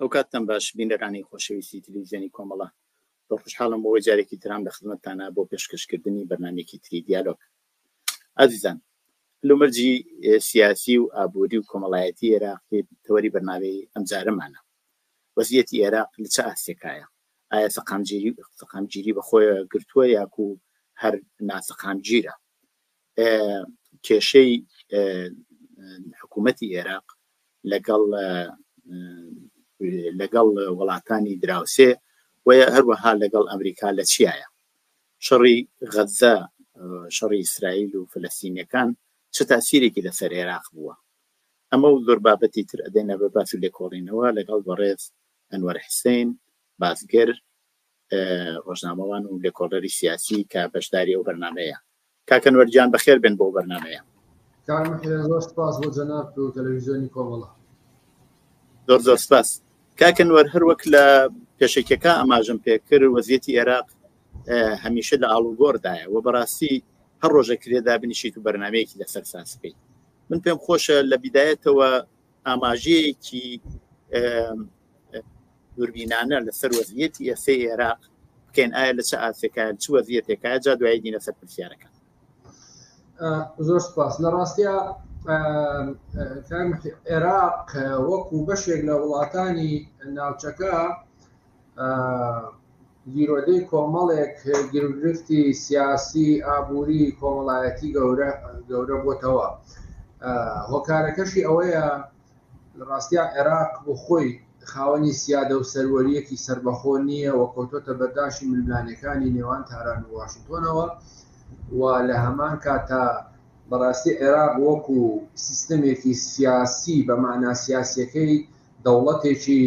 ئەوکات تەم باش بینەرانی خۆشەویستی تلویزیۆنی کۆمەڵە زۆر خوشحاڵم بەوەی جارێکی ترام لە خزمەتتانە بۆ پێشکەش کردنی بەرنامەیەکی تری دیالۆگ ئازیزان هەلومەرجی سیاسی و ئابووری و کۆمەڵایەتی ئێراقی تەوەری بەرنامەی ئەم جارەمانە وەزیەتی ئێراق لە چ ئاستێکایە ئایا سەقامگیری سەقامگیری بەخۆیە گرتووە یاکو هەر ناسەقامگیرە کێشەی حکوومەتی ئێراق لەگەڵ لەگەڵ وڵاتانی دراوسێ و هەروەها لەگەڵ ئەمریکا لە چیایە شەڕی غەزە شەڕی ئیسرائیل و فلستینەکان چ تاسیرێکی لەسەر عێراق بووە ئەمە و زۆر بابەتی تر ئەدەینە بە باس و لێکۆڵینەوە لەگەڵ بەڕێز ئەنوەر حسین باسگر ڕۆژنامەوان و لێکۆڵەری سیاسی کە بەشداری ئەو بەرنمەیە کاک ئەنوەر گیان بەخێر بێن بۆ بەرنمەیە. کاک محێن زۆر سپاس بۆ جەنابت و تەلەویزیۆنی کۆمەڵە. زۆر زۆر سپاس کاک ئەنوەر هەر وەک لە پێشەکیەکە ئاماژەم پێکرد وەزیەتی ئێراق هەمیشە لە ئاڵوگۆڕدایە و بەڕاستی هەر ڕۆژە کرێدا بنیشیت و بەرنمەیەکی لەسەر ساز بکەیت من پێم خۆشە لە بیدایەتەوە ئاماژەیەکی دوربینانە لەسەر وەزیەتی ئێسەی عێراق بکەین ئایا لە چ ئاسێکە چ وەزیەتێکە جا دوای دینە سەر پرسیارەکە زۆر سپاس لە ڕاستە عێراق وەکو بەشێک لە وڵاتانی ناوچەکە گیرۆدەی کۆمەڵێک گرفتی سیاسی ئابووری کۆمەڵایەتی گەورە گەورە بۆتەوە هۆکارەکەشی ئەوەیە ڕاستیا عێراق بۆ خۆی خاوەنی سیادە و سەروەریەکی سربەخۆ نییە و کۆتۆتە بەرداشی ململانەکانی نێوان تاران و واشنتۆنەوە و لە هەمان کاتا بەڕاستی عێراق وەکو سیستەمێکی سیاسی بە معنا سیاسەکەی دەوڵەتێکی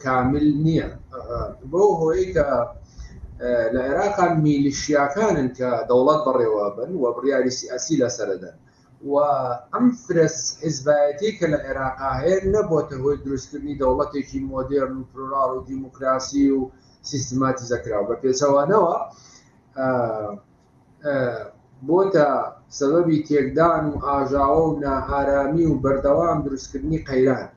کامل نییە بۆ هۆی کە لە عێراقا میلیشیاکانن کە دەوڵەت بەڕێوە بن و بڕیاری سیاسی لەسەردەن و ئەم فرەس حیزبایەتی کە لە عێراقا هەیە نەبووتە هۆی دروستکردنی دەوڵەتێکی مۆدێرن و پلۆراڵ و دیموکراسی و سیستماتیزەکراو بە پێچەوانەوە بۆتە سەبەبی تێکدان و ئاژاوە و نائارامی و بەردەوام دروستکردنی قەیران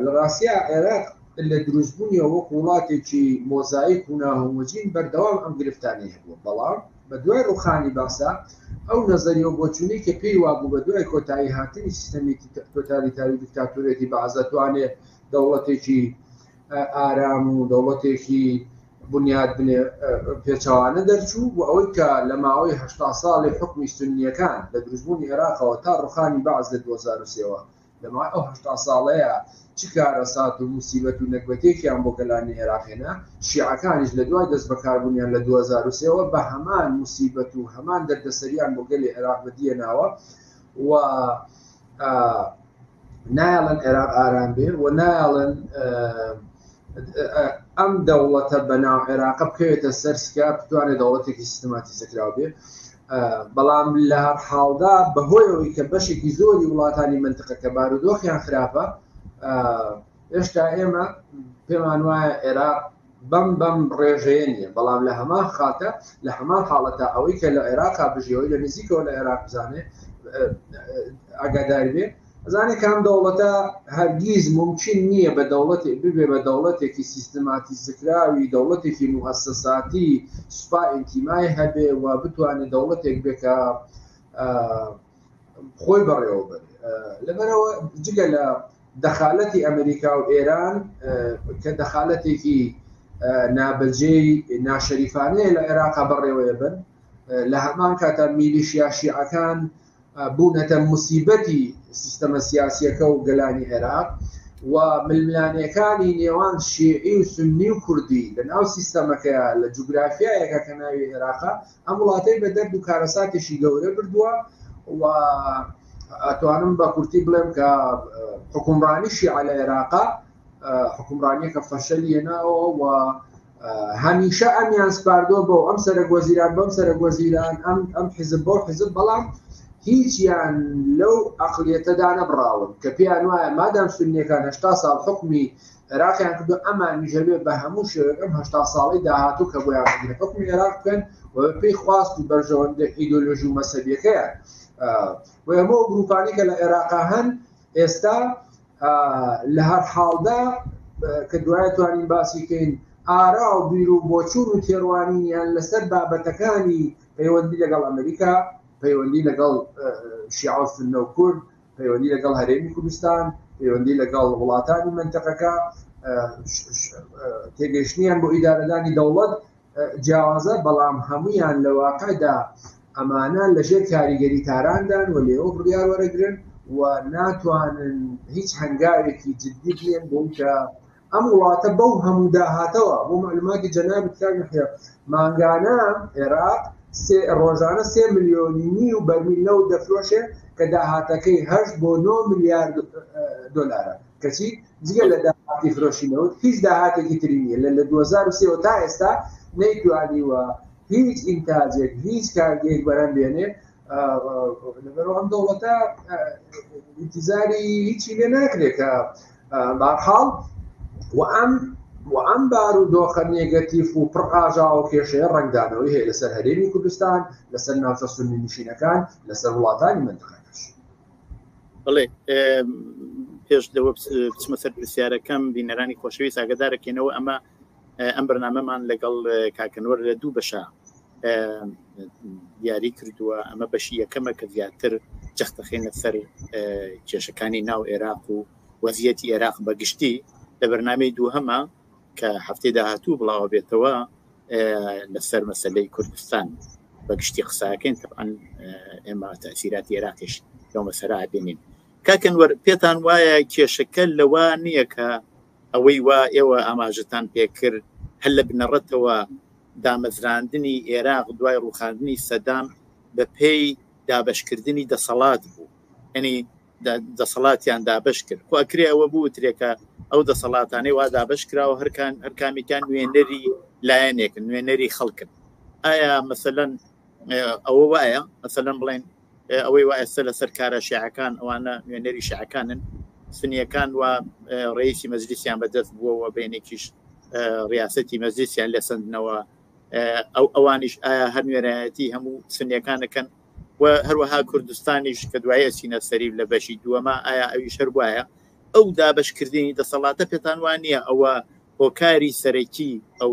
لە ڕاستیا عێراق لە دروستبوونیەوە وەک وڵاتێکی مۆزایک و ناهۆمۆجین بەردەوام ئەم گرفتانەی هەبووە بەڵام بە دوای ڕوخانی باسا ئەو نەزەریەوە بۆچوونەی کە پێی وابوو بە دوای کۆتایی هاتنی سیستەمێکی تۆتالیتاری دیکتاتۆرێتی بەعزە توانێت دەوڵەتێکی ئارام و دەوڵەتێکی بنیات بنێ پێچەوانە دەرچوو و ئەوەی کە لە ماوەی هەشتا ساڵی حکومی سنیەکان لە دروستبوونی عێراقەوە تا ڕوخانی بەعس لە دوو هەزار و سێ وە لە ماوەی ئەو هەشتا ساڵەیە چ کارەسات و موسیبەت و نەگبەتێکیان بۆ گەلانی عێراق هێنا شیعەکانیش لە دوای دەست بەکاربوونیان لە دوو هەزار و سێ وە بە هەمان موسیبەت و هەمان دەردەسەریان بۆ گەلی عێراق بەدیهێناوە و نایڵن عێراق ئارام بێ و نایڵن ئەم دەوڵەتە بەناو عێراقە بکەوێتە سەر سکا بتوانێت دەوڵەتێکی سیستماتی زکراو بێ بەڵام لە هەر حاڵدا بەهۆیەوەی کە بەشێکی زۆری وڵاتانی منتقەکە بارودۆخیان خراپە هێشتا ئێمە پێمان وایە عێراق بەم بەم ڕێژەیە نییە بەڵام لە هەمان خاکە لە هەمان حاڵەتە ئەوەی کە لە عێراقا بژیەوەی لە نزیکەوە لە عێراق بزانێ ئاگادار بێ ئەزانێ کام دەوڵەتە هەرگیز ممکن نییە بە دەوڵەتی ببێ بە دەوڵەتێکی سیستماتی زکراوی دەوڵەتێکی موهسەساتی سوپا ئینتیمای هەبێ و بتوانێت دەوڵەتێک بێکە خۆی بەڕێوە بەرێ لەبەرەوە جگە لە دەخالەتی ئەمریکا و ئێران کە دەخالەتێکی نابەجێی ناشەریفانەیە لە عێراقا بەڕێوەیە بن لە هەمان کاتە میلیشیا شیعەکان بوونەتە مسیبەتی سیستەمە سیاسیەکە و گەلانی عێراق و ململانەکانی نێوان شیعی و سنی و کوردی لە ناو سیستەمەکەیە لە جوگرافیایەکە کە ناوی عێراقا ئەم وڵاتەی بە دەرد و کارەساتێکی گەورە بردووە و ئەتوانم بە کورتی بڵێم کە حکومڕانی شیعە لە عێراقا حکومڕانیەکە فەشەلیەناوە و هەمیشە ئەمیان سپاردۆ بۆ ئەم سەرەک وەزیران بەم سەرەک وەزیران ئەم ئەم حزب بۆ حزب بەڵام هیچیان لەو ئەقلیەتەدا نەبراون کە پێیان وایە مادام سنیەکان هشتا ساڵ حکومی عێراقیان کردووە ئەمانیش هەبێ بە هەموو شێوەیەک ئەم هەشتا ساڵەی داهاتوو کە بۆیان بگرێت حکومی عێراق بکەن و پێی خواست و بەرژەوەندە ئیدۆلۆژی و مەسەبیەکەیان و ئەمە گروپانی کە لە عێراقا هەن ئێستا لە هەر حاڵدا کە دوای توانین باسی کەین ئارا و بیر و بۆچون و تێڕوانینیان لەسەر بابەتەکانی پەیوەندی لەگەڵ ئەمریکا پەیوەندی لەگەڵ شیعسنە و کورد پەیوەندی لەگەڵ هەرێمی کوردستان، پەیوەندی لەگەڵ وڵاتانی مەنتەقەکە، تێگەیشتنیان بۆ ئیدارەدانی دەوڵەت جیاوازە، بەڵام هەموویان لە واقعدا ئەمانە لەژێر کاریگەری تاراندان و لێوە بڕیار وەرەگرن و ناتوانن هیچ هەنگاوێکی جددی بنێن بۆ ئەوەی کە ئەم وڵاتە بەو هەموو داهاتەوە بۆ معلوماتی جەنابت کاک یەحیا مانگانە عێراق ڕۆژانە سێ ملیۆنی نی و بەرمیل نەوت دەفرۆشێ کە داهاتەکەی هەشت بۆ نۆ ملیار دۆلارە کەچی جگە لە داهاتی فرۆشی نەوت هیچ داهاتێکی تری نیە لە لە 2023 تا ئێستا نەیتوانیوە هیچ ئینتاجێک هیچ کارگەیەک بەرەم بێنێ لەبەرەوە ئەم دەوڵەتە ئینتیزاری هیچی لێ ناکرێت کە بارحاڵ وئەم وئەم بار و دۆخە نێگەتیف و پڕ ئاژا و کێشەیە ڕنگدانەوەی هەیە لەسەر هەرێمی کوردستان لەسەر ناوچە سنی نشینەکان لەسەر وڵاتانی منتقەکەش بڵێ پێش لەوە بچمە سەر پرسیارەکەم بینەرانی خۆشەویست ئاگدارەکەینەوە ئەمە ئەم بەرنامەمان لەگەڵ کاکنوەر لە دوو بەشە دیاری کردووە ئەمە بەشی یەکەمە کە زیاتر جەختەخینە سەر کێشەکانی ناو عێراق و وەزیەتی عێراق بەگشتی لە بەرنمەی دووهەمە کە هەفتەی داهاتوو بڵاوە بێتەوە لەسەر مەسلەی کوردستان بەگشتی قساکەین تەعاان ئێمە تاسیراتی عێراقیش لەو مەسەرا بینین کاکەن وەر پێتان وایە کێشەکە لەوە نییە کە ئەوەی وا ئێوە ئاماژەتان پێکرد هەر لە بنەڕەتەوە دامەزراندنی ئێراق دوای ڕووخاندنی سەدام بەپێی دابەشکردنی دەسەڵات بوو، یانی دەسەڵاتیان دابەش کرد، خۆ ئەکرێ ئەوە بوترێ کە ئەو دەسەڵاتانەی وا دابەش کراوە هەر کامێکیان نوێنەری لایەنێکن، نوێنەری خەڵکن، ئایا مەسەلەن ئەوە وایە مەسەلەن بڵێن ئەوەی وا ئێستا لەسەر کارە شیعەکان ئەوانە نوێنەری شعەکانن سنیەکان و ڕێیسی مەزلیسیان بەدەست بووەوە بینێکیش ڕاستەتی مەزلیسیان لە سندنەوە ئەو ئەوانیش ئایا هەر نوێنایەتی هەموو سنیەکانەکەن و هەروەها کوردستانیش کە دوایە سینە سەریب لە بەشی دووەمە ئایا ئەویش هەر وایە ئەو دابشکردنی دەسەڵاتە پێتان وان نییە ئەوە هۆکاری سەرەکی ئەو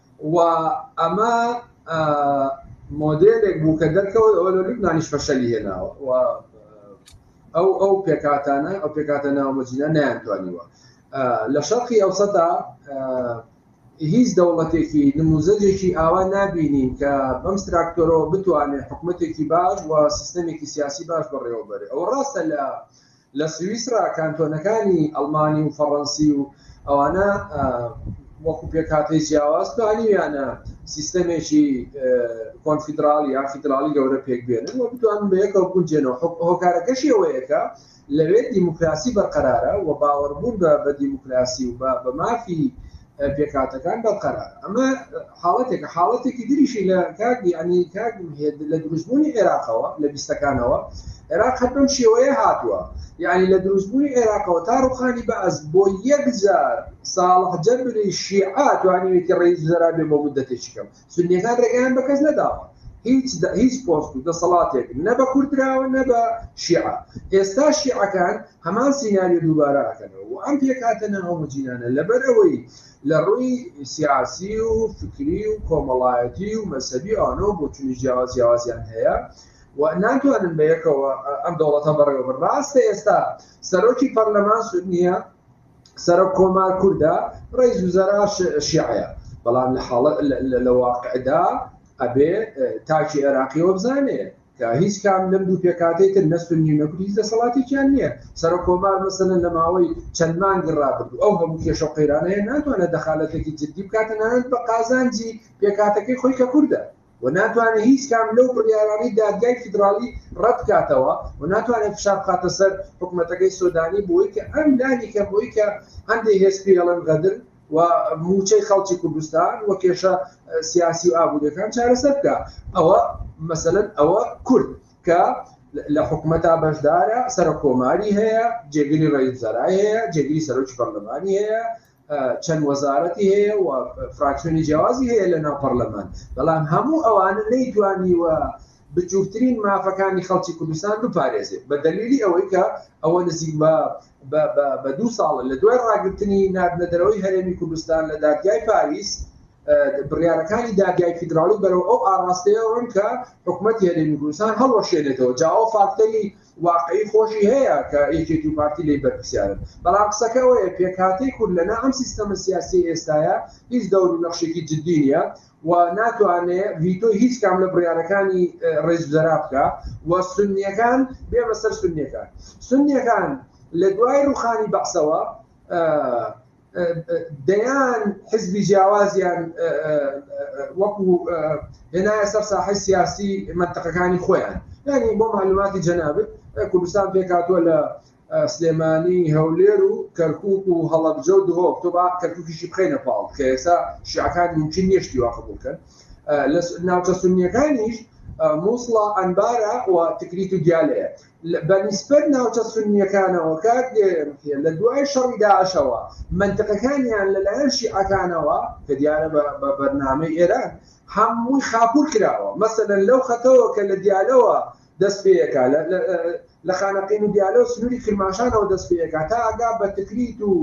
و ئەمە مۆدێلێک بوو کە دەرکەوت ئەوە لە لوبنانیش فەشەلی هێناوە و ئەو ئەو پێکاتانە ئەو پێکاتە ناومەجینە نیانتوانیوە لە شەقی ئەو سەدا هیچ دەوڵەتێکی نموزەجێکی ئاوا نبینین کە بەم تراکتۆرەوە بتوانێت حکوومەتێکی باش و سیستەمێکی سیاسی باش بەڕێوەبەرێ ئەو ڕاستە لە لە سویسرا کانتۆنەکانی ئەڵمانی و فەڕەنسی و ئەوانە وەکو پێکهاتەی جیاواز توانیویانە سیستەمێکی کۆنفیدراڵی یا فیدراڵی گەورە پێک بێنن و بتوانن بە یەکەوە بگونجێنەوە هۆکارەکەشی ئەوەیە کە لەوێ دیموکراسی بەرقەرارە و باوەڕبوون بە بە دیموکراسی و بە بە مافی پێکاتەکان بەو قەرار ئەمە حاڵەتێکە حاڵەتێکی دریشی لە کاردی ئەنی کار لە دروستبوونی عێراقەوە لە بیستەکانەوە عێراق هەر بەم شێوەیە هاتووە یعنی لە دروستبوونی عێراقەوە تا ڕوخانی بەعز بۆ یەکجار ساڵح جەبری شیعە توانیوێتی ڕێز زەرابێ بۆ مدەتێکی کەم سونیەکان ڕێگەیان بە کەس نەداوە هیچ هیچ پۆست و دەسەڵاتێک نە بە کوردراوە نە بە شیعە ئێستا شیعەکان هەمان سیناریۆ دووبارە ئەکەنەوە و ئەم پێکاتە ناهۆمجینانە لەبەر ئەوەی لە ڕووی سیاسی و فکری و کۆمەڵایەتی و مەسەبی ئەوانەوە بۆ چونی جیاواز جیاوازیان هەیە و ناتوانن بە یەکەوە ئەم دەوڵەتە بەڕێوە بڕاستە ئێستا سەرۆکی پەرلەمان سود نییە سەرۆک کۆمار کوردە ڕیز وزەرا شیعەیە بەڵام لە حاڵە لە واقعدا ئەبێ تاکی عێراقی وە بزانێ کە هیچ کام لەم دوو پێکاتەی تر نەستون نیونەکوت هیچ دەسەڵاتێکیان نییە سەرۆک کۆمار مەسەن لە ماوەی چەند مانگی ڕابرد ئەو هەموو کێشە قەیرانەیە ناتوانێت دەخالەتێکی جددی بکاتە نانەت بە قازانجی پێکاتەکەی خۆی کە کوردە و ناتوانێت هیچ کام لەو بڕیارانەی دادگای فیدراڵی ڕەت بکاتەوە و ناتوانێت فشار بخاتە سەر حکومەتەکەی سۆدانی بۆی کە ئەم لانی کەم بۆی کە هەندێ هێز پێی ئەڵێن غەدر و مووچەی خەڵکی کوردستان و کێشە سیاسی و ئابووریەکان چارەسەر بکا ئەوە مەسەلەن ئەوە کورد کە لە حکومەتا بەشدارە سەرە کۆماری هەیە جێگری ڕئیس زەرای هەیە جێگری سەرۆکی پەرلەمانی هەیە چەند وەزارەتی هەیە و فراکسیۆنی جیاوازی هەیە لە ناو پەرلەمان بەڵام هەموو ئەوانە نەیتوانیوە بچووکترین مافەکانی خەڵکی کوردستان بپارێزێت بە دەلیلی ئەوەی کە ئەوە نزیک بە بە دوو ساڵە لە دوای ڕاگررتنی نردنەدەرەوەی هەرێمی کوردستان لە دادگای پاریس بڕیارەکانی دادگای فیدراڵی بەرەو ئەو ئاراستەیەوەن کە حکوومەت هەرێمی کوردستان هەڵوەشێنێتەوە جاوە فاکتەری واقعی خۆشی هەیە کە یەکێتی و پارتی لێی بەرپرسیارن، بەڵام قسەکە ئەوەیە پێکهاتەی کورد لەنا ئەم سیستەمە سیاسیەی ئێستایە هیچ دەور و نەخشێکی جدی نیە و ناتوانێ ڤیتۆی هیچ کام لە بڕیارەکانی ڕێزوزەرا بکا و سونیەکان بێمە سەر سونیەکان سونیەکان لە دوای ڕوخانی بەعسەوە دەیان حزبی جیاوازیان وەکو هێنایە سەر ساحی سیاسی منتەقەکانی خۆیان یعنی بۆ معلوماتی جەنابێت کوردستان پێکاتوە لە سلێمانی هەولێر و کەرکک و هەڵەبجە و دهۆک تۆ با کەرککیشی بخینە پاڵ کە ئێسا شیعەکان ممکن نیشتی واقع بکەن لە ناوچە سنیەکانیش مووسڵە ئەنبارە و تکریت و دیالەیە بە نیسبەت ناوچە سوننیەکانەوە کاک دێرێ لە دوای شەڕی داعشەوە مەنتقەکانیان لە لایەن شیعەکانەوە کە دیارە بە بەرنامەی ئێران هەمووی خاپور کراوە مەسەلەن لەو خەتەوە کە لە دیالەوە دەست پێیەکە لە خانەقین و دیالە و سنووری کرماشانەوە دەست پێیەکە تا ئەگا بە تکریت و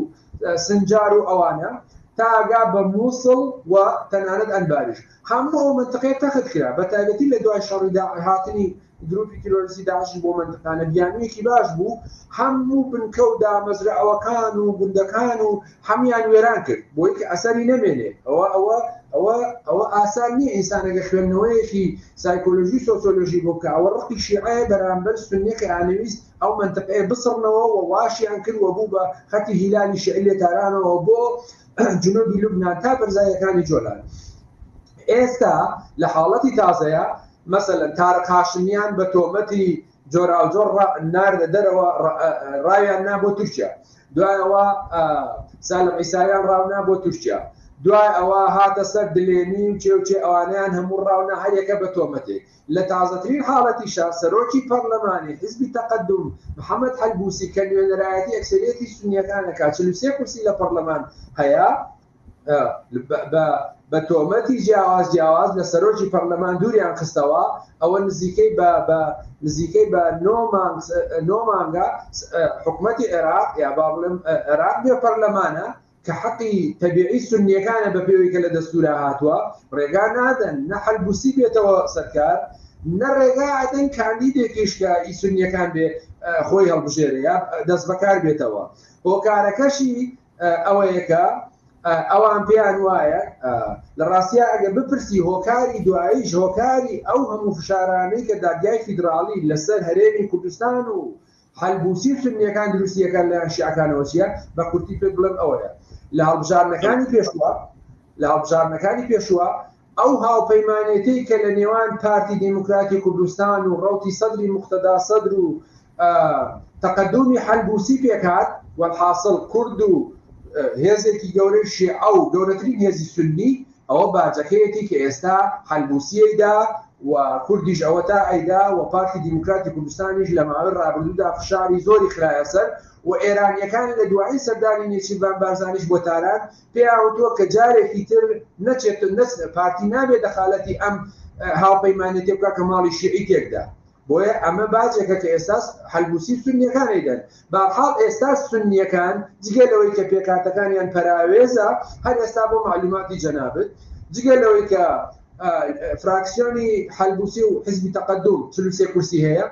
سنجار و ئەوانە تا ئەگا بە مووسڵ و تەنانەت ئەنباریش هەموو ئەو منتقەیە تەخت کرا بە تایبەتی لە دوای شەڕی داعش هاتنی گروپی تیرۆریستی داعشیش بۆ مەنتقانە بیانویەکی باش بوو، هەموو بنکە و دامەزرەعوەکان و گوندەکان و هەمویان وێران کرد بۆی کە ئەسەری نەمێنێ ئەوە ئەوە ئەوە ئەوە ئاسان نیە ئینسان ئەگەر خوێندنەوەیەکی سایکۆلۆژی و سۆسۆلۆژی بۆ بکا ئەوە ڕقی شیعەیە بەرامبەر سوننە کە ئانەویست ئەو مەنتقەیە بسڕنەوە و واشیان کرد و بوو بە خەتی هیلالی شیعی لێ تارانەوە بۆ جنوبی لوبنان تا بەرزایەکانی جۆلان ئێستا لە حاڵەتی تازەیا مەسەلەن تارق هاشمیان بە تۆمەتی جۆراوجۆر ڕا ناردە دەرەوە ڕا ڕاویان نا بۆ تورکیا دوای ئەوە ئا سالم عیساویان ڕاونا بۆ تورکیا دوای ئەوە هاتە سەر دلێنی و چێ و چێ ئەوانەیان هەموو ڕاونا هەر یەکە بە تۆمەتێک لە تازەترین حاڵەتیشا سەرۆکی پەرلەمانی حیزبی تەقەدوم محەمەد حەلبووسی کە نوێنەرایەتی ئەکسەریەتی سوننیەکان ئەکا چل و سێ کورسی لە پەڕلەمان هەیە بە تۆمەتی جیاواز جیاواز لە سەرۆکی پەرلەمان دووریان خستەوە ئەوە نزیکەی بە نزیکەی بە نۆمانگە حکوومەتی عێراق یا با بڵم عێراق بێ پەرلەمانە کە حەقی تەبیعی سنیەکانە بە پێوەی کە لە دەستورا هاتووە ڕێگا نادەن نە حلبوسی بێتەوە سەرکار نە ڕێگا ئەدەن کاندیدێکیش کە ئی سنیەکان بێ خۆی هەڵبژێرە یا دەست بەکار بێتەوە هۆکارەکەشی ئەوەیە کە ئەوان پێیان وایە لە ڕاستیا ئەگە بپرسی هۆکاری دواییش هۆکاری ئەو هەموو فشارانەی کە دادگای فیدراڵی لەسەر هەرێمی کوردستان و حلبوسی و سنیەکان دروستیەکان لە شیعەکانەوە چیە بە کورتی پێت بڵێم ئەوەیە لە هەڵبژاردنەکانی پێشوە لە هەڵبژاردنەکانی پێشوە ئەو هاوپەیمانێتیی کە لە نێوان پارتی دیموکراتی کوردستان و ڕەوتی سەدری موقتەدا سەدر و تەقەدوومی حەلبووسی پێک هات، وەلحاسڵ کورد و هێزێکی گەورەی شێعە و گەورەترین هێزی سوننی، ئەوە باجەکەیەتی کە ئێستا حەلبووسی ئەیدا و کوردیش ئەوەتا ئەیدا و پارتی دیموکراتی کوردستانیش لە ماوەی ڕابردوودا فشاری زۆری خرایە سەر و ئێرانییەکان لە دوایین سەردانی نێچیرڤان بارزانیش بۆ تاران پێیانوتووە کە جارێکی تر نەچێت و نەچنە پارتی نابێت دەخالەتی ئەم هاوپەیمانێتیە بکات کە ماڵی شیعی تێکدا بۆیە ئەمە باجێکە کە ئێستاس حلبوسی سنیەکان ئەیدەن بەحاڵ ئێستا سنیەکان جگە لەوەی کە پێکاتەکانیان پەراوێزە هەر ئێستا بۆ معلوماتی جەنابت جگە لەوەی کە فراکسیۆنی حلبوسی و حزبی تەقدم چلوسێ کورسی هەیە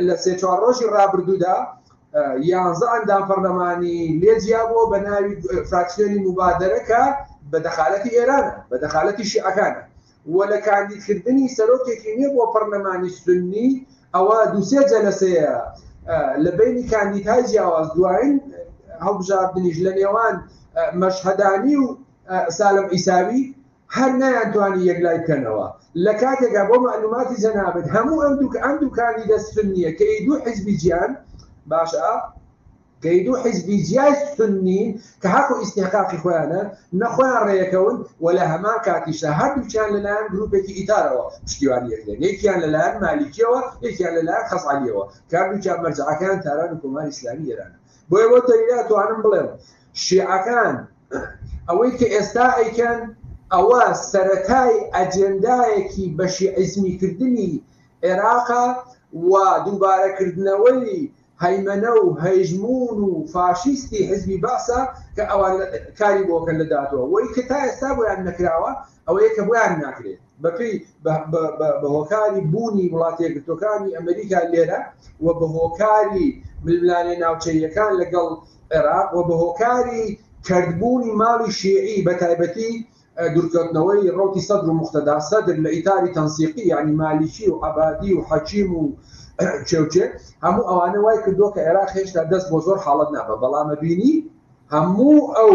لە سێ چوار ڕۆژی ڕابردوودا یانزە ئەندام پەرلەمانی لێ جیابووە بە ناوی فراکسیۆنی موبادەرە کە بە دەخالەتی ئێرانە، بە دەخالەتی شیعەکانە و لە کاندیدکردنی سەرۆکێکی نوێ بۆ پەرلەمانی سوننی ئەوە دوو سێ جەلەسەیە لە بەینی کاندیدهای جیاواز دوایین هەڵبژاردنیش لە نێوان مەشهەدانی و سالم عیساوی هەر نەیانتوانی یەکلای بکەنەوە لە کاتێکا بۆ مەعلوماتی جەنابت هەموو ئەم دوک ئەم دوکانی دەست سنیە کە ی دوو حیزبی جیان باشە کە ی دوو حیزبی جیای سنین کە هەق و ئیستیحقاقی خۆیانە نە خۆیان ڕێیەکەون و لە هەمان کاتیشدا هەردووکیان لە لایەن گروپێکی ئیتارەوە پشتیوانی یەکدەن یەکیان لە لایەن مالیکیەوە یەکیان لە لایەن خەزعەلیەوە کە هەردووکیان مەرجەعەکەیان تاران و کۆماری ئیسلامی ئێرانە بۆیە بۆ تەنیا توانم بڵێم شیعەکان ئەوەی کە ئێستا ئەیکەن ئەوە سەرەتای ئەجێندایەکی بەشیعیزمی کردنی عێراقە و دووبارە کردنەوەی هەیمەنە و هەژموون و فاشیستی حیزبی بەعسە کە ئەوان کاری بۆ کەن لە داهاتووە وەی کە تا ئێستا بۆیان نەکراوە ئەوەیە کە بۆیان ناکرێت بەپێی بە هۆکاری بوونی وڵاتی یەکگرتوەکانی ئەمریکا لێرە و بە هۆکاری ململانێ ناوچەیەکان لەگەڵ عێراق و بە هۆکاری کردبوونی ماڵی شیعی بە تایبەتی دوورکەوتنەوەی ڕوتی سەدر و مختدا سەدر لە ئیتاری تەنسیقی یعنی مالیکی و عبادی و حەکیم و چێوچێ هەموو ئەوانە وای کردووە کە عێراق هێشتا دەست بۆ زۆر حاڵت نابە بەڵامە بینی هەموو ئەو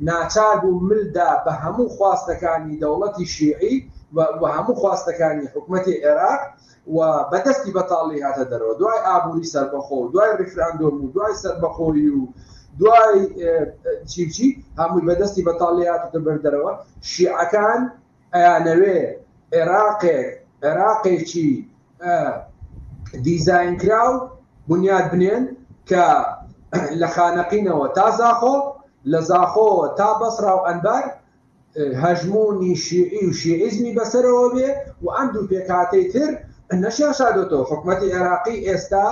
ناچار بوو مل دا بە هەموو خواستەکانی دەوڵەتی شیعی و و هەموو خواستەکانی حکومەتی عێراق و بە دەستی بەتاڵی هاتە دەرەوە دوای ئابووری سەربەخۆ و دوای ڕیفراندۆم و دوای سەربەخۆیی و دوای چی و چی هەمووی بە دەستی بەتاڵی هاتۆتە بەر دەرەوە شیعەکان ئەیانەوێ عێراقێک، عێراقێکی دیزاینکراو بنیات بنێن کە لە خانەقینەوە تا زاخۆ، لە زاخۆوە تا بەسڕا و ئەنبار هەژموونی شیعی و شیعیزمی بەسەرەوە بێ و ئەم دوو پێکهاتەی تر نەشیان شاردۆتەوە حکومەتی عێراقی ئێستا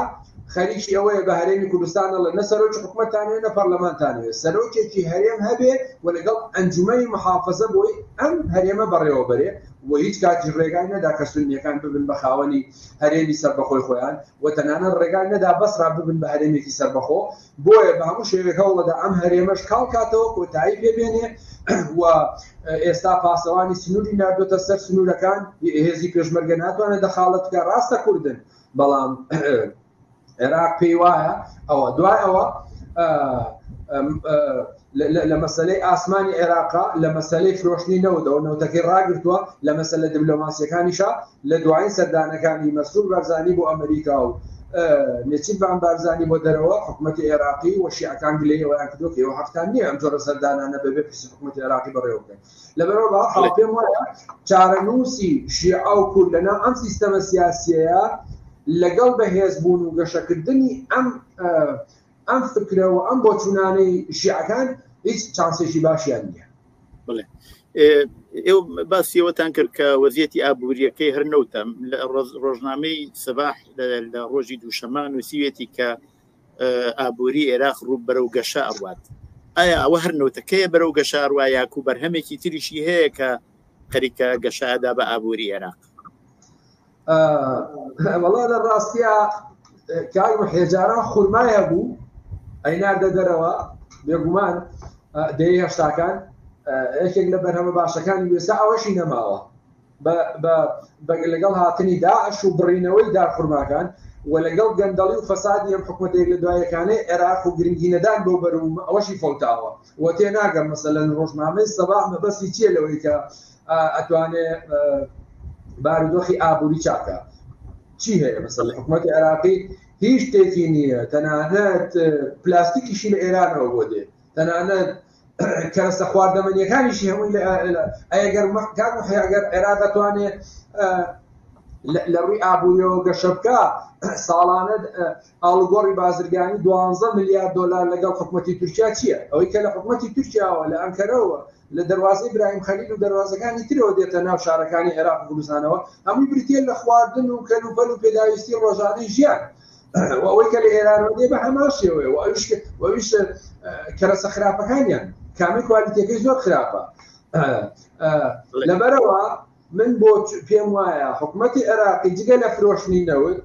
خەریکی ئەوەیە بە هەرێمی کوردستان دەڵێ نە سەرۆکی حکومەتتانێ نە پەرلەمانتانێ سەرۆکێکی هەرێم هەبێ و لەگەڵ ئەنجومەی محافزە بۆی ئەم هەرێمە بەڕێوە بەرێ و هیچ کاتیش ڕێگای نەدا کە سنیەکان ببن بە خاوەنی هەرێمی سەربەخۆی خۆیان و تەنانە ڕێگای نەدا بەسرا ببن بە هەرێمێکی سەربەخۆ بۆیە بە هەموو شێوێک هەوڵەدا ئەم هەرێمەش کاڵ کاتەوە کۆتایی پێ بێنێ و ئێستا پاسەوانی سنووری نردۆتە سەر سنوورەکان هێزی پێشمەرگە ناتوانێت دەخاڵت بکە ڕاستە کوردن بەڵام عێراق پێی وایە ئەوە دوای ئەوە لە مەسەلەی ئاسمانی عێراقە، لە مەسەلەی فرۆشتنی نەوتەوە، نەوتەکەی ڕاگرتووە، لە مەسەلە دبلۆماسییەکانیشا لە دوایین سەردانەکانی مەسرور بارزانی بۆ ئەمریکا و نێچیرڤان بارزانی بۆ دەرەوە، حکومەتی عێراقی و شیعەکان گلەیی ئەوەیان کردووە کە ئێوە حەقتان نییە ئەم جۆرە سەردانانە بەبێ پرسی حکومەتی عێراقی بەڕێوە ببەن. لەبەرئەوە بە هەر حاڵ پێم وایە چارەنووسی شیعە و کورد لەناو ئەم سیستەمە سیاسییەیە لەگەڵ بەهێزبوون و گەشەکردنی ئەم ئەم فکرە و ئەم بۆچوونانەی شیعەکان هیچ چانسێکی باشیان نییە بڵێ ئێوە باسیەوەتان کرد کە وەزیەتی ئابوووریەکەی هەر نەوتم لە ڕۆژنامەی سەباح لە ڕۆژی دووشەمان نووسیوێتی کە ئابووری عێراق ڕوو بەرەو گەشە ئەڕوات ئایا ئەوە هەر نەوتەکەیە بەرەو گەشاروا یاکو بەرهەمێکی تریشی هەیە کە خەریکە گەشادا بە ئابووری عێراق وەڵا لە ڕاستە کار و حێجاران خورمایە بوو ئەیناردە دەرەوە بێگومان دەی هەشتاکان یەکێک لە بەرهەمە باشەکانی وێستا ئەوەشی نەماوە بەگە لەگەڵ هاتنی داعش و بڕینەوەی دا خورماکان و لەگەڵ گەندەڵی و فەسادی ئەم حکوومەتێک لە دوایەکانەی عێراق و گرنگی نەدان بۆ بەروم ئەوەشی فەوتاوە و تێ ناگەم مەسەلەن ڕۆژنامەی سەبا مەبەسی چیە لەوەی کە ئەتوانێ بارودۆخی ئابووری چاکە چی هەیە بەسەر لە حکوومەتی عێراقی هیچ شتێکی نییە تەنانەت پلاستیکیشی لە ئێرانەوە بۆ دێ تەنانەت کەرەسە خواردەمەنیەکانیشی هەمووی ئەگەر مەکان و هەیەگەر عێرا دەتوانێت لە ڕووی ئابووریەوە گەشە بکە ساڵانە ئاڵگۆڕی بازرگانی دوانزە میلیارد دلار لەگەڵ حکوومەتتی تورکیا چییە ئەوەی کە لە حکوومەتتی تورکیاوە لە ئەنکەرەوە لە دەروازەی براهیم خەلیل و دەروازەکانی ترەوە دێتە ناو شارەکانی عێراق و کوردستانەوە، هەمووی بریتییە لە خواردن و کەلوپەل و پێداویستی ڕۆژانەی ژیان. و ئەوەی کە لە ئێرانەوە دێ بە هەمان شێوەیە و ئەویش و ئەویش کەرەسە خراپەکانیان، کامەی کوالیتیەکەی زۆر خراپە. لەبەرئەوە من بۆ پێم وایە حکومەتی عێراقی جگە لە فرۆشتنی نەوت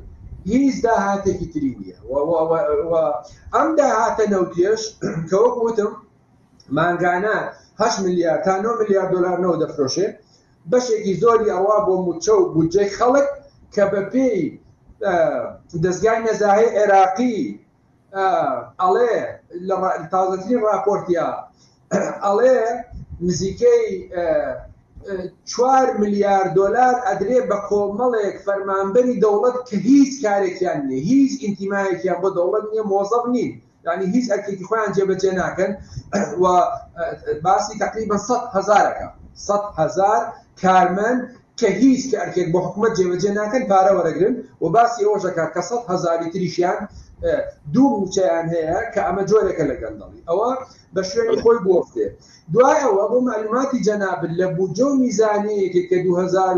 هیچ داهاتێکی تری نییە و و و ئەم داهاتە نەوتیەش کە وەک وتم مانگانە هەشت ملیار تا نۆ ملیار دۆلار نەوت دەفرۆشێ بەشێکی زۆری ئەڕوا بۆ موچە و بودجەی خەڵک کە بە پێی دەستگای نەزاهی عێراقی ئەڵێ لە تازەترین راپۆرتیا ئەڵێ نزیکەی چوار ملیار دۆلار ئەدرێ بە کۆمەڵێک فەرمانبەری دەوڵەت کە هیچ کارێکیان نیە هیچ ئینتیمایەکیان بۆ دەوڵەت نیە مۆزەب نین یانی هیچ ئەرکێکی خۆیان جێبەجێ ناکەن و باسی تقریبا سە هزارەکە سە هزار کارمەند کە هیچ کە ئەرکێک بۆ حکوومەت جێبەجێ ناکەن پارە وەرەگرن و باسی ئەوەشەکە کە سە هزاری تریشیان دوو موچەیان هەیە کە ئەمە جۆرێکە لە گەندەڵی ئەوە بە شوێنی خۆی بۆفتێ دوای ئەوە بۆ معلوماتی جەنابل لە بودجە و میزانەیەکێک کە 2000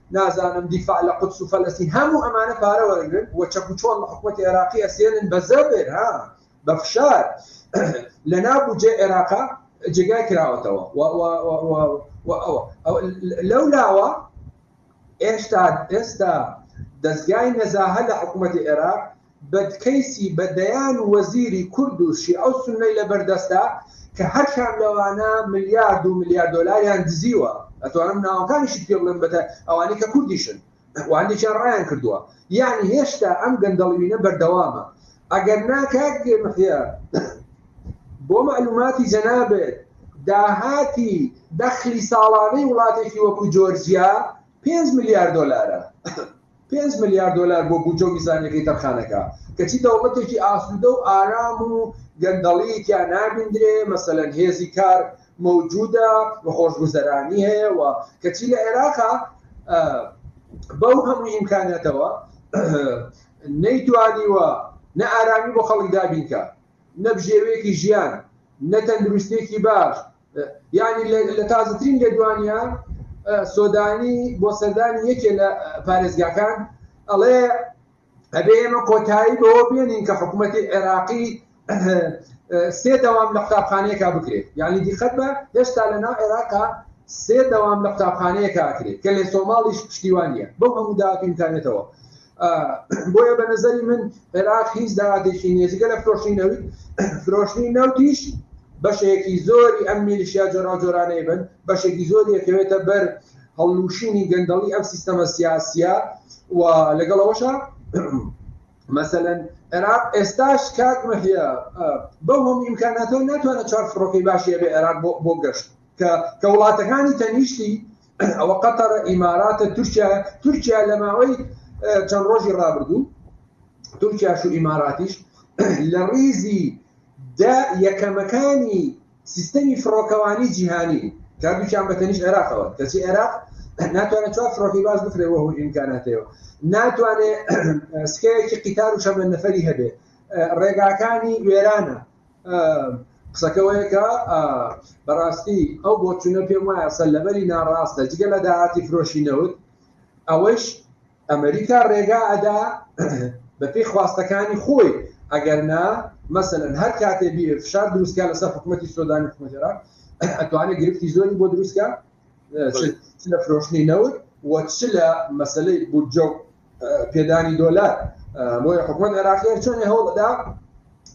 نازانم دیفاع لە قودس و فەلەستین هەموو ئەمانە پارە وەرەگرن و چەک و چۆڵ لە حکومەتی عێراقی ئەسێنن بە زەبر ها بە فشار لە ناو بودجەی عێراقا جێگای کراوەتەوە لەو لاوە ئێستا ئێستا دەزگای نەزاهە لە حکوومەتی عێراق بەدکەیسی بە دەیان وەزیری کورد و شیعە و سوننەی لەبەر دەستە کە هەر کام لەوانە ملیارد و ملیار دۆلاریان دزیوە ئەتوانم ناوەکانیشت پێ بڵێم بەتە ئەوانەی کە کوردیشن و هەندێکیان ڕایان کردووە یانی هێشتا ئەم گەندەڵیینە بەردەوامە ئەگەر نا کاک محیا بۆ مەعلوماتی جەنابت داهاتی دەخلی ساڵانەی وڵاتێکی وەکو جۆرجیا پێنج ملیار دۆلارە پێنج ملیار دۆلار بۆ بودجە و میزانیەکەی تەرخانەکە، کەچی دەوڵەتێکی ئاسوودە و ئارام و گەندەڵیی تیا نابیندرێ، مەسەلەن هێزی کار مەوجوودە و خۆشگوزەرانی هەیە و کەچی لە عێراقا بەو هەموو ئیمکاناتەوە نەیتوانیوە نە ئارامی بۆ خەڵک دابینکا، نە بژێویەکی ژیان، نە تەندروستیەکی باش، یعنی لە تازترین لێدوانیا سۆدانی بۆ سەردانی یەکێ لە پارێزگاکان ئەڵێ ئەبێ ئێمە کۆتایی بەوە بێنین کە حکوومەتی عێراقی سێ دەوام لە قوتابخانەیەکا بکرێت یعنی دیخەت بە هێشتا لە ناو عێراقا سێ دەوام لە قوتابخانەیەکا کرێت کە لە سۆماڵیش پشتیوانە بەو هەموو داکەین کارێتەوە بۆیە بە نظری من عێراق هیچ داهاتێکی نیە جگە لە فرۆشتنی نەوت فرۆشتنی نەوتیش بەشێکی زۆری ئەم میلیشیا جۆراوجۆرانەی بن بەشێکی زۆری دەکەوێتە بەر هەڵلوشینی گەندەڵی ئەم سیستەمە سیاسیە و لەگەڵەوەشە مەسەەن عێراق ئێستاش کاک مەحە بەو هەم ئیمکاناتەوە ناتوانە چوار فڕۆکەی باشی بە عێراق بۆ گەشت کە کە وڵاتەکانی تەنیشتی ئەوە قەتەرە ئیماراتە تورکیا تورکیا لە ماوەی چەند ڕۆژی ڕابردوو تورکیاش و ئیماراتیش لە ڕیزی دە یەکەمەکانی سیستەمی فڕۆکەوانی جیهانی کاردووکیان بەتەنیش عێراقەوە کەچی عێراق ناتوانێت چوار فڕۆکی باز بکرێەوە و ئیمکاناتەوە ناتوانێت سکەیەکی قیتار و شەمە نەفری هەبێ ڕێگاکانی وێرانە قسەکە وەیەکە بەڕاستی ئەو بۆچونە پێم وایە سەر لەبەری ناڕاستە جگە لە داهاتی فرۆشی نەوت ئەوەیش ئەمریکا ڕێگا ئەدا بەپی خواستەکانی خۆی ئەگەر نا مەسەن هەر کاتێ بیر فشار دروستکە لەسەر حکوومەتتی سۆدانی حکومەتێرا ئەتوانێت گرفتی زۆری بۆ دروستکە چ لە فرۆشتنی نەوت و چ لە مەسلەی بودجە و پێدانی دۆلار بۆیە حکومت عێراقیان چۆنی هەوڵدا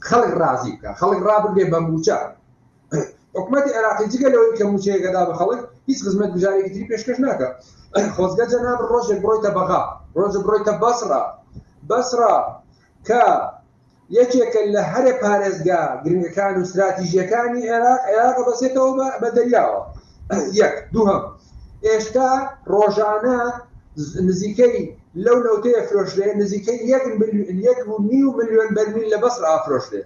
خەڵک ڕازی بکە خەڵک ڕابگرێ بە موچە حکومەتی عێراقی جگە لەوەی کە موچەیەکەدا بە خەڵک هیچ خزمەت بژارێکی تری پێشکەش ناکە خۆزگە جەناب ڕۆژێک بڕۆیتە بەغا ڕۆژە بڕۆیتە بەسڕە بەسڕە کە یەکێکە لە هەرە پارێزگا گرنگەکان و ستراتیژییەکانی عێراق، عێراق دەبەستێتەوە بە بە دەریاوە یەک، دووهەم ئێشتا ڕۆژانە نزیکەی لەو نەوتەی ئەفرۆشرێ نزیکەی یەک ملیۆن یەک و نیو ملیۆن بەرمیل لە بەسڕ ئافرۆشرێ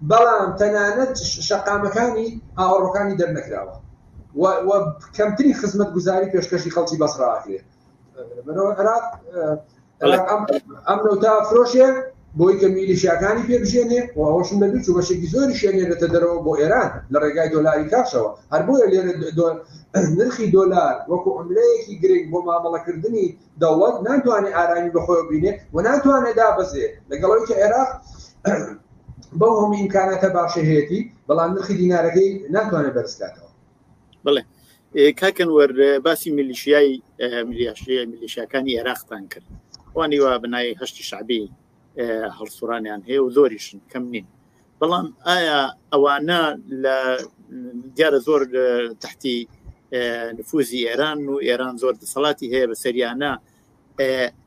بەڵام تەنانەت شەقامەکانی ئاوەڕۆکانی دەرنەکراوە و و کەمترین خزمەتگوزاری پێشکەشی خەڵکی بەسڕ ئاکرێ ئەم نەوتا فرۆشێ بۆی کە میلیشیاکانی پێ بژێنێ و ئەوشم دەبی چوو بەشێکی زۆری شوێنێنێتە دەرەوە بۆ ئێران لە ڕێگای دۆلاری کاشەوە هەر بۆیە لێرە نرخی دۆلار وەکو ئەملەیەکی گرنگ بۆ مامەڵەکردنی دەوڵەت ناتوانێت ئارامی بەخۆی بینێ و ناتوانێت دابەزێ لەگەڵەوەی کە عێراق بەو هەموو ئیمکاناتە باشەهێتی بەڵام نرخی دینارەکەی ناتوانێت بەرزکاتەوە بڵێ کاکەن وەر باسی میلیشیای میلیاشی میلیشیاکانی عێراقتان کرد وانی وا بنای هەشتی شعبی هەڵسوڕانیان هەیە و زۆریشن کەم نین بەڵام ئایا ئەوانە لە دیارە زۆر تحتی نفوزی ئێران و ئێران زۆر دەسەڵاتی هەیە بە سەریانە و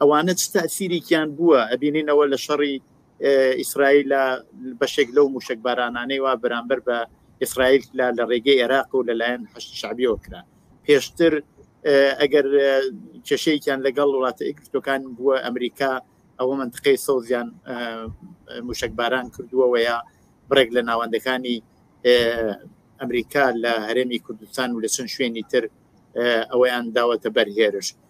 ئەوانە چ تاسیریکیان بووە ئەبینینەوە لە شەڕی ئیسرائیل لە بەشێک لەو موشک بارانانەی وا بەرامبەر بە ئیسرائیل لە لە ڕێگەی عێراق و لەلایەن هەشت شعبیەوە کرا پێشتر ئەگەر کێشەیەکیان لەگەڵ وڵاتە ئەکرتەکان بووە ئەمریکا ئەوە منتقەی سەوزیان موشک باران کردووەوەیە بڕێک لە ناوەندەکانی ئەمریکا لە هەرێمی کوردستان و لە چەند شوێنی تر ئەوەیان داوەتە بەرهێرش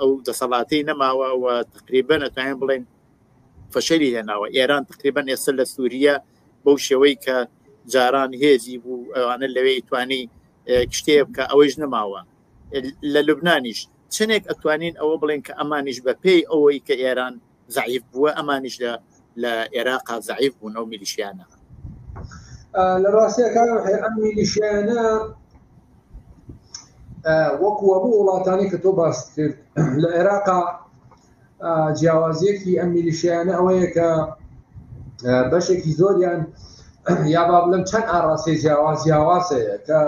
ئەو دەسەڵاتی نەماوە و تقریبا نەتوانین بڵێن فەشەری هێناوە ئێران تقریبا ئێستا لە سووریە بەو شێوەی کە جاران هێزی بوو ئەوانە لەوێ توانی شتێ بکە ئەوەیش نەماوە لە لوبنانیش چنێک ئەتوانین ئەوە بڵێن کە ئەمانیش بە پێی ئەوەی کە ئێران زعیف بووە ئەمانیش لە لە عێراقا زعیف بوون ئەو میلیشیانە لە ڕاستەکە ئەم میلیشیانە وەکو هەموو وڵاتانی کە تۆ باست کرد لە عێراقا جیاوازیەکی ئەم میلیشیانە ئەوەیە کە بەشێکی زۆریان یا با بڵم چەند ئاڕاستەی جیاواز جیاوازەیە کە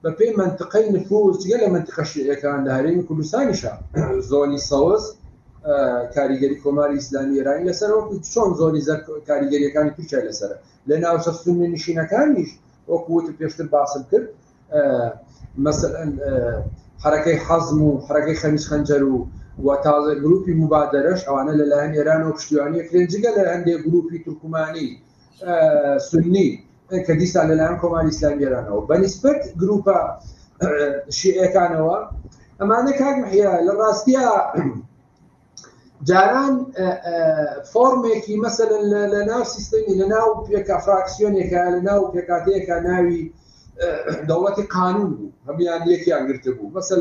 بە پێی مەنتقەی نفوس جگە لە مەنتقە شیعەکان لە هەرێمی کوردستانیشە زۆنی سەوز کاریگەری کۆماری ئیسلامی ئێرانی لەسەر وەکو چۆن زۆری زەر کاریگەریەکانی تورکیا لەسرە لە ناوچە سنی نشینەکانیش وەکووت پێشتر باسم کرد مەسەن حرەکەی حەزم و حرەکەی خەمیز خەنجەر و و تازە گروپی مبادرەش ئەوانە لەلایەن ئێران و پشتیوانی کرێنجگە لە هەندێک گروپی تورکمانی سنی کە دیسان لەلایەن کۆماری ئیسلامی ئێرانەوە بەنیسبەت گروپە شیعەکانەوە ئەمانە کاک محیا لە ڕاستیا جاران فۆرمێکی مەسەن لە ناو سیستەمی لە ناو پێکا فراکسیۆنێکە لە ناو پێکاتەیەکە ناوی دەوڵەتی قانون بوو هەمیان یەکیان گرتبوو مەسەن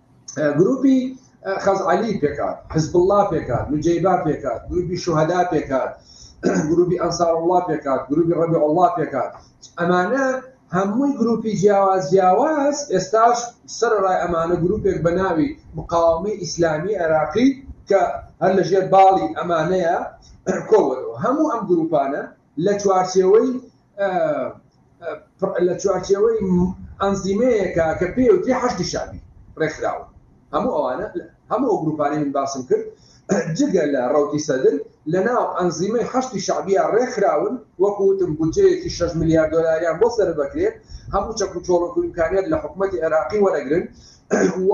گروپی خەزعلی پێکات حزب الله پێکات نجیبا پێکات گروپی شوهدا پێکات گروپی ئەنسار الله پێکات گروپی ڕەبی الله پێکات ئەمانە هەمووی گروپی جیاواز جیاواز ئێستاش سەرڕای ئەمانە گروپێک بە ناوی مقاومی ئیسلامی عێراقی کە هەر لەژێر باڵی ئەمانەیە کۆوەەوە هەموو ئەم گروپانە لە چوارچێوەی لە چوارچێوەی ئەنزیمەیەکە کە پێی وترێ حەشدی شەعبی ڕێکخراوە هەموو ئەوانە هەموو ئەو گروپانەی من باسم کرد جگە لە ڕوتی سەدر لە ناو ئەنزیمەی حەشتی شعبیە ڕێکخراون وەکوتم بودجەیەکی 6 میلیارد دلاریان بۆ سەر بەکرێت هەموو چەک و چۆڵک و امکانیت لە حکوومەتتی عێراقی وەرەگرن و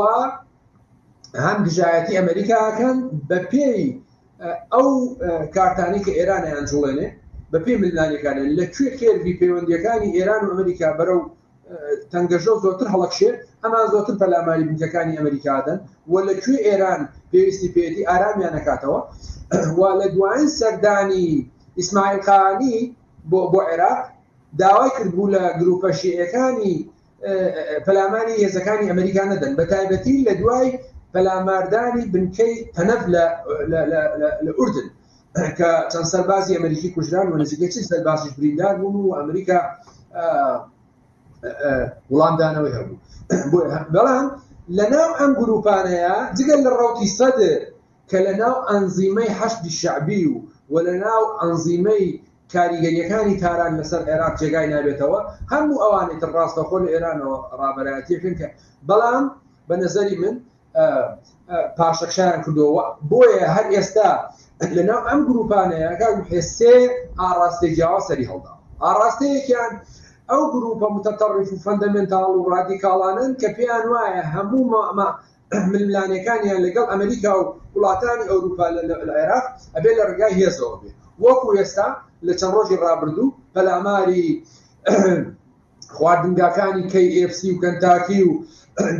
هەم دژایەتی ئەمریکاکەن بە پێی ئەو کارتانەی کە ئێران ئەیانجوڵێنێ بە پێی ململانێکانە لە کوێ کێرڤی پەیوەندیەکانی ئێران و ئەمریکا بەرەو تەنگەژە زۆرتر هەڵکشێ ئەمان زۆرتر پەلاماری بنکەکانی ئەمریکادەن و لە کوێ ئێران پێویستی پێێتی ئارامیان نکاتەوە و لە دوایین سەردانی ئیسماعیلقانی بۆ بۆ عێراق داوای کردبوو لە گروپە شیعەکانی پەلاماری هێزەکانی ئەمریکا نەدەن بە تایبەتی لە دوای پەلاماردانی بنکەی تەنەف لە ئوردن کە چەند سەربازی ئەمریکی کوژران و نزیکە چ سەربازیش بریندار بوون و ئەمریکا وڵامدانەوەی هەبوو بەڵام لە ناو ئەم گروپانەیە جگەل لە ڕوتی سەدر کە لە ناو ئەنزیمەی حەشتی شعبی و و لە ناو ئەنزیمەی کاریگەرییەکانی تاران لەسەر عێراق جێگای نابێتەوە، هەموو ئەوانەی تر ڕاستەوخۆ لە ئێرانەوە ڕابەرایەتییەکەن کە بەڵام بە نەزەری من پاشەکشەیان کردووە و بۆیە هەر ئێستا لە ناو ئەم گرووپانەیە کاک محێ سێ ئاڕاستەی جیاواز سەری هەڵداوە، ئاڕاستەیەکیان ئەو گرووپە متەتەڕیف و فەندەمێنتاڵ و ڕادیکاڵانەن کە پێیان وایە هەموو ململانێکانیان لەگەڵ ئەمریکا و وڵاتانی ئەوروپا لە عێراق ئەبێ لە ڕگای هێزەوە بێ وەکو ئێستا لە چەند ڕۆژی ڕابردوو پەلاماری خواردنگاکانی کەی ئفسی و کەنتاکی و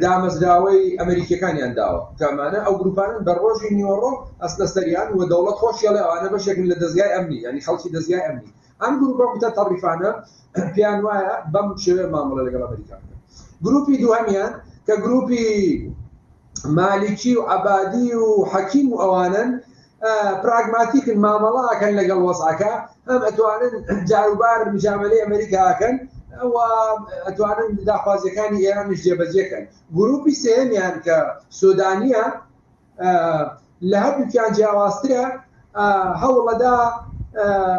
دامەزراوەی ئەمریکیەکانیان داوە کامانە ئەو گروپانن بە ڕۆژی نیوەڕۆ ئەستە سەریان و دەوڵەت خۆشیڵێ ئەوانە بەشێکن لە دەزگای ئەمنی ینی خەڵکی دەزگای ئەمنی ئەم گروپە متطرفانە پێیان وایە بەم شێوەیە مامەڵە لەگەڵ ئەمریکا بکەن گروپی دووهەمیان کە گروپی مالیکی و عبادی و حەکیم و ئەوانن پراگماتیکن مامەڵاکەن لەگەڵ وەزعەکە هەم ئەتوانن جاروبار مجاملەی ئەمریکاکەن ئەتوانن داخوازیەکانی ئێرانش جێبەجێکەن گروپی سێمیان کە سودانیە لە هەردووکیان جیاوازترە هەوڵەدا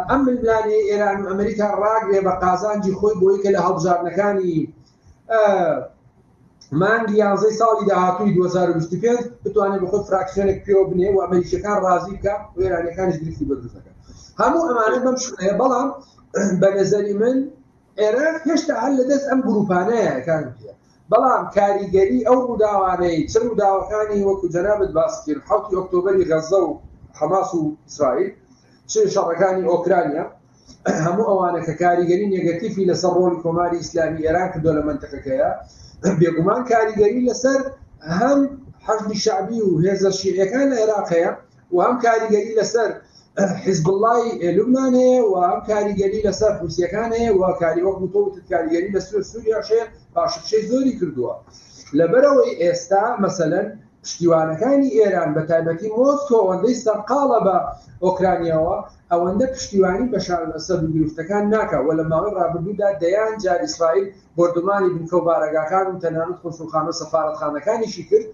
ئەم ململانێ ئێران و ئەمریکا ڕاگرێ بە قازانجی خۆی بۆی کە لە هەڵبژاردنەکانی مانگی یانزەی ساڵی داهاتووی 2025 بتوانێت بە خۆی فراکسیۆنێک پێوە بنێ و ئەمریکیەکان ڕازی بکە و ئێرانەکانش گرفتی بەدروستەکە هەموو ئەمانە بەم شوێ بەڵام بە نەزەری من عێراق هێشتا هەر لە دەست ئەم گروپانەیەکان بەڵام کاریگەری ئەو ڕووداوانەی چ ڕووداوەکانی وەکو جەنابت باست کرد حەوتی ئۆکتۆبەری غەززە و حەماس و ئیسرائیل چ شەڕەکانی ئۆکرانیا هەموو ئەوانە کە کاریگەری نێگەتیفی لەسەر ڕۆڵی کۆماری ئیسلامی ئێران کردوە لە مەنتەقەکەیا بێگومان کاریگەری لەسەر هەم حەشدی شەعبی و هێزە شیعیەکان لە عێراق هەیە و هەم کاریگەری لەسەر حزبڵای لوبناان هەیە و هەم کاریگەری لەسەر حوسیەکان هەیە و کاری وەک وتۆوت کاریگەری لە سوور سووریاشێ پاششەی زۆری کردووە لەبەرەوەی ئێستا مەسەەن پشتیوانەکانی ئێران بە تایبەتی مۆسکۆ ئەوەندەی سەرقاڵە بە ئۆکرانیاوە ئەوەندە پشتیوانی بە شارەسەر و گرفتەکان ناکە و لە ماوەی ڕابردوودا دەیان جار ئیسرائیل بردومانی بنکە و بارەگاکان و تەنانەت خۆسوخانە سەفاەتخانەکانیشی کرد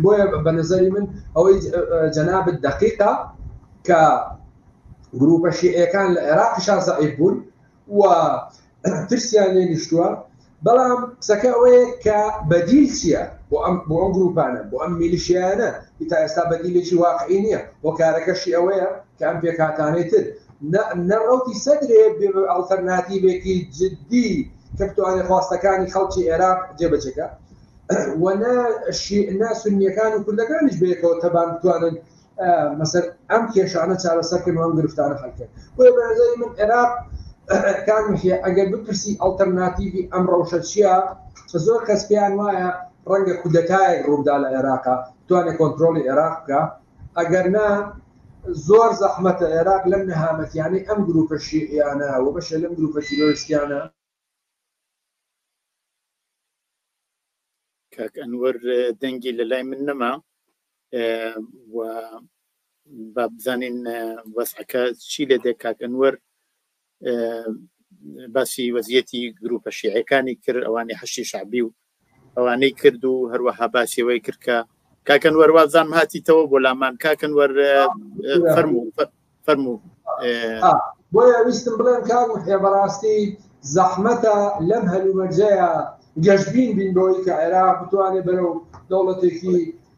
بۆیە بە نظری من ئەوەی جەنابت دقیقا کە گروپە شیعەکان لە عێراقی شازعیب بوون و ترسیان لێ نیشتووە بەڵام قسەکە ئەوەیە کە بەدیل چییە بۆ ئەم بۆ ئەم گروپانە بۆ ئەم میلیشیانە تا ئێستا بەدیلێکی واقعی نییە بۆ کارەکەشی ئەوەیە کە ئەم پێکاتانەی تر نەڕوتی سەدرێ ئەڵتەرناتیبێکی جددی کە بتوانێت خواستەکانی خەڵکی عێراق جێبەجێکە و نە شیعە سنیەکان و کوردەکانیش بەیەکەوە تەبان بتوانن مەسەر ئەم کێشانە چارەسەرکن و ئەم گرفتانە هەڵکن بۆیە بەنظری من عێراق کامیشە ئەگەر بپرسی ئەڵتەرناتیڤی ئەم ڕەوشە چییە کە زۆر کەس پێیان وایە ڕەنگە کودەتایەک ڕوودا لە عێراقا توانێت کۆنتترۆلی عێراق بکە ئەگەر نا زۆر زەحمەتە عێراق لەم نەهامەتیانەی ئەم گروپە شیعیانە و بەشە لەم گروپە تیرۆریستیانە کاک ئەنوەر دەنگی لە لای من نەما و با بزانین وەسعەکە چی لێ دێ کاک ئەنوەر باسی وەزیەتی گروپە شیعەکانی کرد ئەوانی حەشی شعبی و ئەوانەی کرد و هەروەها باسیەوەی کرد کە کاکەن وەروازان هاتیتەوە بۆ لامان کاکەن وەر فەرمو فەرمو بۆیە ویستم بڵێن کار وحێ بەڕاستی زەحمەتە لەم هەلومەرجەیە گەشتبین بین بەوەی کە عێراق بتوانێت بەرەو دەوڵەتێکی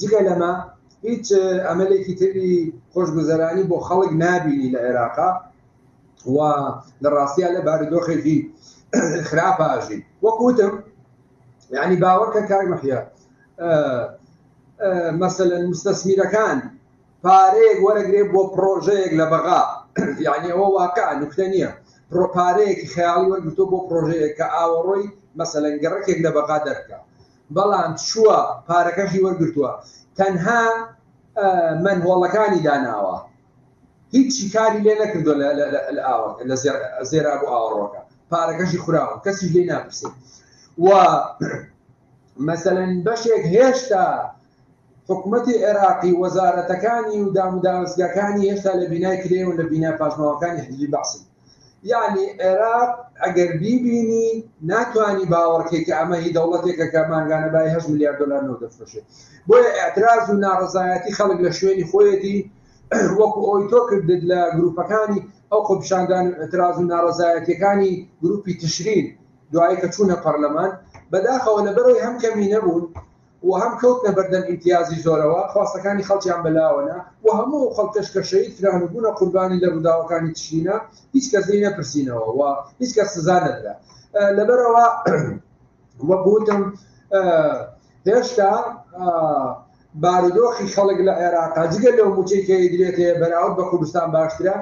جگە لەمە هیچ ئەمەلێکی تری خۆشگوزەرانی بۆ خەڵک نابینی لە عێراقا و لە ڕاستیا لە بارودۆخێکی خراپاژی وەکوتم یعنی باوەکە کار مەحیا مەسەن مستەسمیرەکان پارەیەک وەرەگرێ بۆ پرۆژەیەک لە بەغا یعنی ئەوە واقع نوکتە نییە پرۆپارەیەکی خیاڵی وەرگتو بۆ پرۆژەیە کە ئاوەڕۆی مەسەن گەڕکێک لە بەغا دەرکە بەڵام چووە پارەکەشی وەرگرتووە تەنها مەنهۆڵەکانی داناوە هیچی کاری لێ نەکردوە لە زێرا بۆ ئاوەڕۆکە پارەکەشی خوراوە کەسیش لێ ناپرسێت و مەسەلەن بەشێک هێشتا حکوومەتی عێراقی وەزارەتەکانی و داموداوەستگەکانی هێشتا لە بینای کرێ و لە بینا پاشماوەکانی حزبی بەعسن یەعنی عێراق ئەگەر بیبینی ناتوانی باوەڕکەی کە ئەمە هی دەوڵەتێکە کە مانگانە بای هەشت ملیار دلار نەوت دەفرۆشێت بۆیە ئاعتراز و ناڕزایەتی خەڵک لە شوێنی خۆیەتی وەکو ئەوی تۆ کردت لە گروپەکانی ئەو خۆپشاندان و ئەتراز و ناڕزایەتەکانی گروپی تشرین دوایی کە چوونە پەرلەمان بەداخەوە لە بەرەوەی هەم کەمی نەبوون و هەم کەوتنە بەردەم ئیمتیازی زۆرەوە، خواستەکانی خەڵکیان بەلاوە نا و هەموو ئەو خەڵکەش کە شەهید کران و بوونە قوربانی لە ڕووداوەکانی تشرینە هیچ کەس لێی نەپرسینەوە و هیچ کەس سزا نەدرا لەبەرئەوە وەک وتم هێشتا بارودۆخی خەڵک لە عێراقا جگە لەو موچەی کە ئیدرێت هەیە بەراورد بە کوردستان باشترە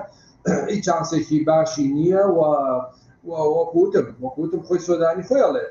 هیچ چانسێکی باشی نییە و وەکوتم وەکوتم خۆی سۆدانی خۆیڵێت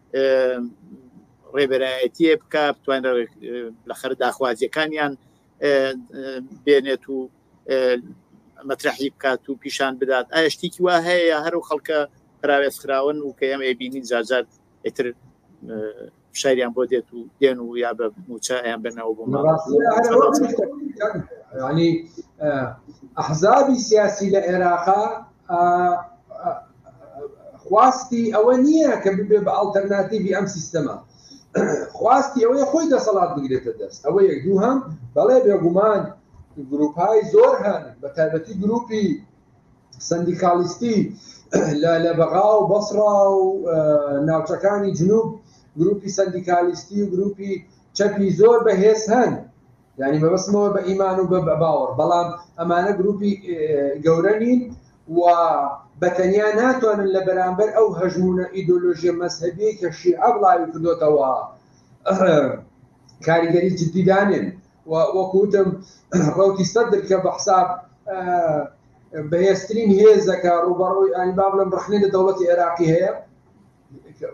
ڕێبەرایەتیە بکە بتوان لە خەر داخوازیەکانیان بێنێت و مەترحی بکات و پیشان بدات ئایا شتێکی وا هەیە هەر و خەڵکە پراوێز خراون و کە ئەم ئەبینین زارزار ئتر شاریان بۆ دێت و دێن و یا بە موچە یان بنەوە بۆ ئەحزابی سیاسی لە عێراقا خواستی ئەوە نییە کە ببێ بە ئەڵتەرناتیڤی ئەم سیستەمە خواستی ئەوەیە خۆی دەسەڵات بگرێتە دەست ئەوە یەک دوو هەم بەڵێ بێگومان گروپای زۆر هەن بە تایبەتی گروپی سندیکالیستی لە لە بەغا و بەسڕا و ناوچەکانی جنوب گروپی سندیکالیستی و گروپی چەپی زۆر بەهێز هەن یانی مەبەستمەوە بە ئیمان و بە باوەڕ بەڵام ئەمانە گروپی گەورە نین و بەتەنیا ناتوانن لە بەرامبەر ئەو هەژمونە ئیدۆلۆژیە مەذهبی کە شیعە بڵاوی کردوتەوە کاریگەری جدی دانێن و وەکوتم ڕوتی سەدر کە بە حساب بەهێزترین هێزەکە ڕوبەڕوی ئەنباب لەم ڕخنێ لە دەوڵەتی عێراقی هەیە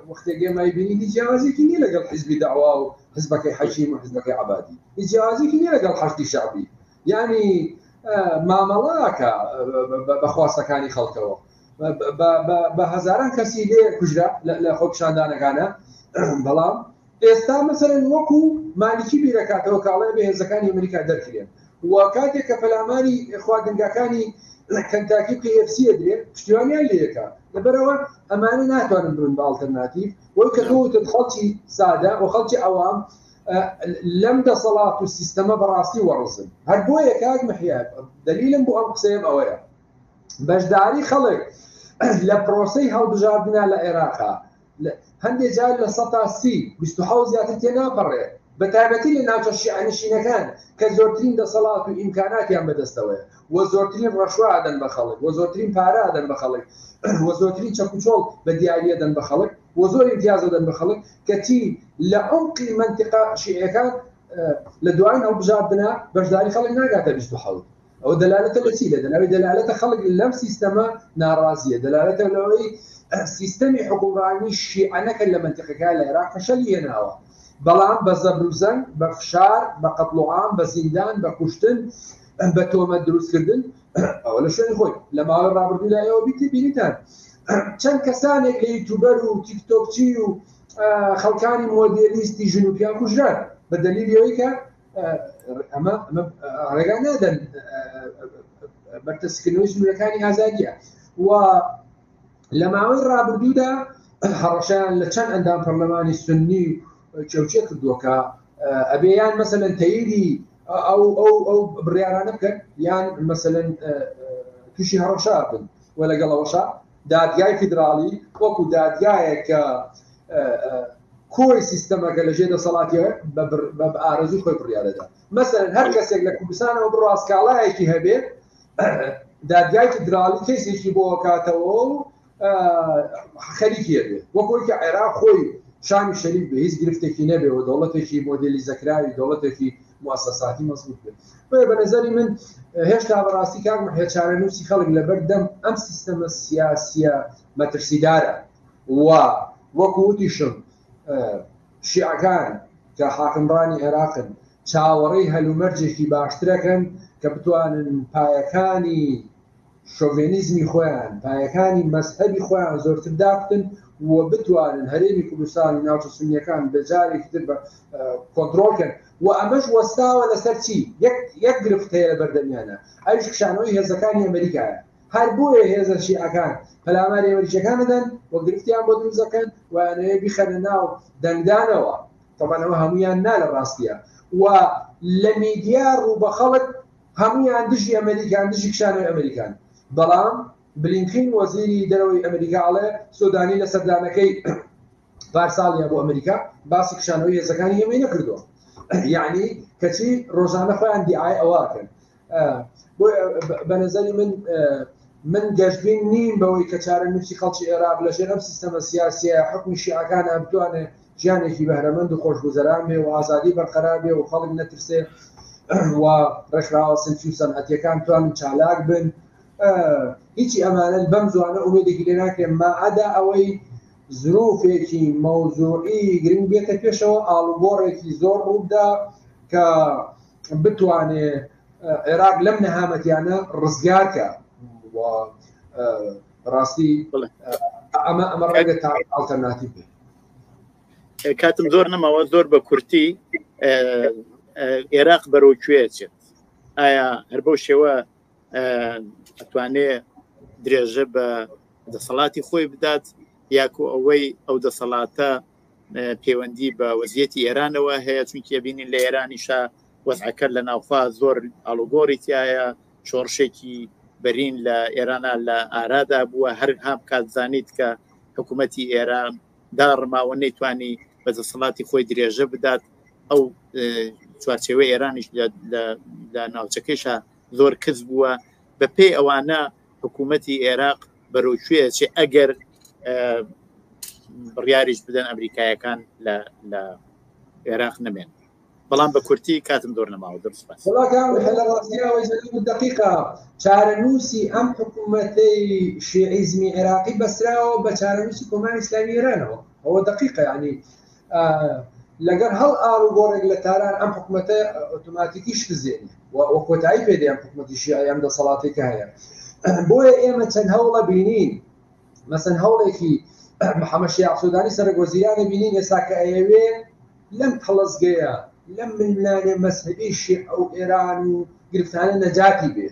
وەختێک ئێمە ئەیبینین هیچ جیاوازیەکی نیە لەگەڵ حزبی داوا و حزبەکەی حەشیم و حزبەکەی عبادی هیچ جیاوازیەکی نیە لەگەڵ حەشدی شعبی یعنی مامەڵاکە بەخواستەکانی خەڵکەوە بە هەزاران کەسی لێ کوژرا لە خۆپشاندانەکانە بەڵام ئێستا مەسەلەن وەکو مالیکی بیرەکاتەوە کە ئەڵێ ئەبێ هێزەکانی ئەمریکا دەرکرێن و کاتێک کە پەلاماری خواردنگاکانی کەنتاکی و کەی ئێف سی ئەدرێ پشتیوانیان لێکا لەبەرەوە ئەمانە ناتوانن بن بە ئاڵتەرناتیڤ وەی کە تۆوتت خەڵکی سادە و خەڵکی ئەوام لەم دەسەڵات و سیستەمە بەڕاستی وەڕزن هەر بۆیە کاک محیات دلیلم بۆ ئەم قسەیەم ئەوەیە بەشداری خەڵک لە پرۆسی هەڵبژاردنا لە عێراقا هەندێ جار لە سەتا سی، بیست و حەوت، زیاتر تێناپەڕێ، بەتایبەتی لە ناوچە شیعەنشینەکان کە زۆرترین دەسەڵات و ئیمکاناتیان بەدەستەوەیە و زۆرترین ڕەشوە ئەدەن بە خەڵک و زۆرترین پارە ئەدەن بە خەڵک و زۆرترین چەکوچۆڵ بە دیاری ئەدەن بە خەڵک و زۆر ئیمتیاز ئەدەن بە خەڵک کەچی لە عەمقی مەنتیقە شیعیەکان لە دوایین هەڵبژاردنە بەشداری خەڵک ناگاتە بیست و حەوت ئەوە دەلالەتە لە چی لە دەلاوی دەلالەتە خەڵک لەم سیستەمە ناڕازیە دەلالەتە لەوەی سیستەمی حکوڕانی شیعەنەکە لە منتقەکە لە عێراق فشەلی هێناوە بەڵام بە زەبروزەنگ بە فشار بە قەتڵوعام بە زیندان بە کوشتن بە تۆمە دروستکردن ئەوە لە شوێن خۆی لە ماوەی ڕابردوو لە ئێوە بیتی بینیتان چەند کەسانێک لە یوتوبەر و تیکتۆکچی و خەڵکانی مۆدێلیستی ژنوپیان کوژران بە دەلیل یەوەی کە ئەمە ڕێگا نادەن بەرتەسکردنەوەی ژمرەکانی ئازادیە و لە ماوەی ڕابردوودا هەڕەشیان لە چەند ئەندام پەرلەمانی سنی چێوچێ کردووەکە ئەبێ یان مەسەن تەیری ئەو ئەو ئەو بڕیارانە بکەن یان مەسەن تووشی هەڕەشا بن و لەگەڵەوەشە دادگای فیدراڵی وەکو دادگایەک کە کۆی سیستەمەکە لە ژێ دەسەڵاتی بە ئارەزوی خۆی بڕیارەدا مەسەر هەر کەسێک لە کوردستانەوە بڕاستکاڵایەکی هەبێت دادگای فیدراڵی کەسێکی بۆ کاتەوە و خەریکیە بێت وەکۆی کە عێراق خۆی شامی شەریف بە هیچ گرفتێکی نەبێەوە دەوڵەتێکی مۆدلی زەکراوی دەوڵەتێکی موسەساتی مەزبوت بێت بۆیە بە نەزەری من هێشتا بەڕاستی کاک محێ چارەنووسی خەڵک لەبەر دەم ئەم سیستەمە سیاسیە مەترسیدارە و وەکو وتیشم شیعەکان کە حاکمڕانی عێراقن چاوەڕێی هەلومەرجێکی باشترەکەن کە بتوانن پایەکانی شۆڤێنیزمی خۆیان، پایەکانی مەزهەبی خۆیان زۆرتر دابکن و بتوانن هەرێمی کوردستان و ناوچە سوننیەکان بە جارێکی تر بە کۆنترۆڵ کەن و ئەمەش وەستاوە لەسەر چی؟ یەک یەک گرفت هەیە لە بەردەمیانە ئەویش کشانەوەی هێزەکانی ئەمەریکایە هەر بۆیە هێزە شیعەکان پەلاماری ئەمەریکیەکان دەدەن و گرفتیان بۆ دروست دەکەن و ئەیانەوێ بیخەنە ناو دەنگدانەوە تەبەن ئەوە هەموویان نا لە ڕاستیە و لە میدیا ڕوو بە خەڵک هەموویان دژی ئەمەریکان، دژی کشانەوەی ئەمەریکان. بەڵام بلینکین وەزیری دەرەوەی ئەمەریکا ئەڵێ سۆدانی لە سەردانەکەی پارساڵیا بۆ ئەمەریکا باسی کشانەوەی هێزەکانی ئێمەی نەکردووە. یەعنی کەچی ڕۆژانە خۆیان دیعای ئەوە ئەکەن. بۆیە بە نەزەری من من گەشبین نیم بەوەی کە چارەنووسی خەڵکی عێراق لەژێر ئەم سیستەمە سیاسییە حوکمی شیعەکانا بتوانێ ژیانێکی بەهرەمەند و خۆشگوزەران بێ و ئازادی بەرقەرار بێ و خەڵک نەترسێ و ڕێکخراوە سنفی و سەنعەتیەکان توانن چالاک بن هیچی ئەمانن بەم زوانە ئومێدێکی لێ ناکرێن ماعەدا ئەوەی زروفێکی مەوزوعی گرنگ بێتە پێشەوە ئاڵوگۆڕێکی زۆر ڕوودا کە بتوانێ عێراق لەم نەهامەتیانە ڕزگارکە ڕاستی ئەمە ئەمە ڕێگە تا ئاڵتەرناتیو بێت کاتم زۆر نەماوە زۆر بە کورتی عێراق بەرەو کوێچێت ئایا هەر بەو شێوە ئەتوانێ درێژە بە دەسەڵاتی خۆی بدات یاکو ئەوەی ئەو دەسەڵاتە پەیوەندی بە وەزیەتی ئێرانەوە هەیە چونکی بینین لە ئێرانیشە وەزعەکە لە ناوخوا زۆر ئالوگۆری تایە شۆڕشێکی بەرین لە ئێرانە لە ئارادا بووە هەر هاام کاتزانیت کە حکوومەتی ئێران دا ڕماوە نەیتوانی بە دەسەڵاتی خۆی درێژە بدات ئەو چوارچێوە ئێرانیش لە ناوچەکەیشە زۆر کز بووە بە پێی ئەوانە حکوومەتی عێراق بەرەوکوێ چێ ئەگەر بڕیاریش بدەن ئەمریکایەکان لە عێراق نەمێن بەڵام بە کورتی کاتم زۆر نەماوە زۆر سوپاس وڵاکان لە ڕاستیەوەی زەلم دقیقا چارەنووسی ئەم حکوومەتەی شیعیزمی عێراقی بەسراوە بە چارەنووسی کۆماری ئیسلامی ئێرانەوە ئەوە دقیقە ینی لەگەر هەڵ ئاڕ و گۆڕێک لە تاران ئەم حکوومەتە ئۆتوماتیکی شکزێنی و کۆتایی پێدەیان حکوومەتی شیعی ئەم دەسەڵاتی کە هەیە بۆیە ئێمە چەند هەوڵە بینین مەسەن هەوڵێکی محەمەد شیاع سودانی سەرۆک وەزیرانی بینین ئێستا کە ئەیەوێ لەم تەڵەزگەیە لەم ململانێ مەزهەبی شیعە و ئێران و گرفتانە نەجاتی بێ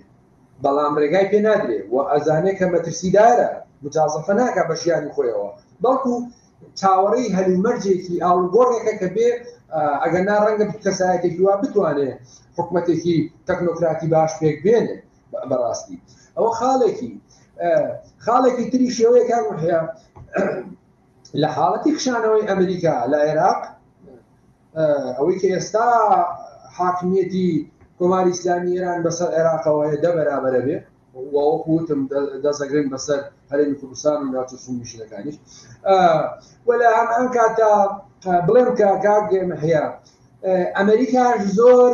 بەڵام ڕێگای پێ نادرێ و ئەزانێ کە مەترسیدارە مجازەفە ناکا بە ژیانی خۆیەوە بەڵکو چاوەڕێی هەلومەرجێکی ئاڵوگۆڕێکە کە بێ ئەگەر نا ڕەنگە کەسایەتێکی وا بتوانێ حکومەتێکی تەکنۆکراتی باش پێک بێنێ بەڕاستی ئەوە خاڵێکی خاڵێکی تری شێوەیەکان هەیە لە حاڵەتی خشانەوەی ئەمریکا لە عێراق ئەوەی کە ئێستا حاکمیەتی کۆماری ئسلامی ئێران بەسەر عێراقەوە هەیە دە بەرابرە بێ وەوەکوتم دەزەگرن بەسەر هەرێمی کوردستان و ناوچە سومیشەکانیش وەلا ئەم ئەم کاتە بڵێم کە کاگەمە هەیە ئەمریکاش زۆر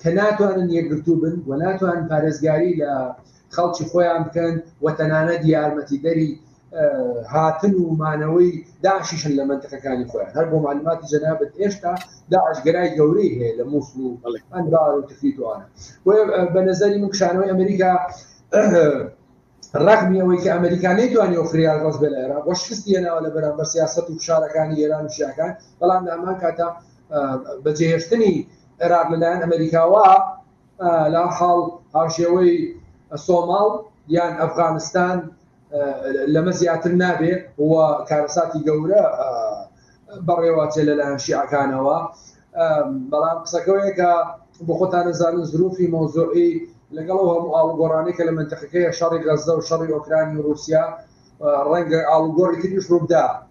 کە ناتوانن یەکگرتوو بن و ناتوان پارێزگاری لە خەڵکی خۆیان بکەن و تەنانەت یارمەتیدەری هاتن و مانەوەی داعشیشن لە منتەکەکانی خۆیان هەر بۆ معلوماتی جەنابەت ئێشتا داعشگەرای گەورەی هەیە لە مووسڵ و ئەنبار و تفیتوانە بە نظری من کشانەوەی ئەمریکا ڕقمی ئەوەی کە ئەمریکا نەیتوانانی و فریال ڕز بێ لە عێراق وە شکستی هێناوە لە بەرامبەر سیاست و فشارەکانی ئێران و شیاکان بەڵام لە ئەمان کاتا بەجێهێشتنی عێراق لەلایەن ئەمریکاوە لا حاڵ هاوشێوەی سۆماڵ یان ئەفغانستان لەمە زیاتر نابێ و کارەساتی گەورە بەڕێوەچێ لەلایەن شیعەکانەوە بەڵام قسەکەوەیە کە بۆ خۆتانەزانن زروفی مۆزۆعی لەگەڵ هەموو ئاڵگۆڕانی کە لە منتەقەکەی شەڕی غەزە و شەڕی ئۆکرانی و رووسیا ڕەنگە ئاڵگۆڕی تریش ڕووبدا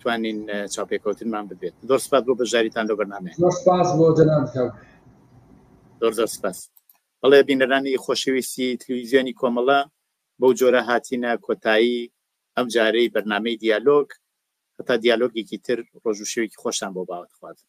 توانین چاپێکەوتنمان ببێت زۆر سپاس بۆ بەژاریتان لە بەنامێ سپاس بۆ جەنان زۆر زۆر سپاس بەڵێ بینەرانی خۆشەویستی تلویزیۆنی کۆمەڵە بەو جۆرە هاتینە کۆتایی ئەم جارەی بەرنمەی دیالۆگ هەتا دیالۆگێکی تر ڕۆژ و شێوێکی خۆشتان بۆ باوەتخوازم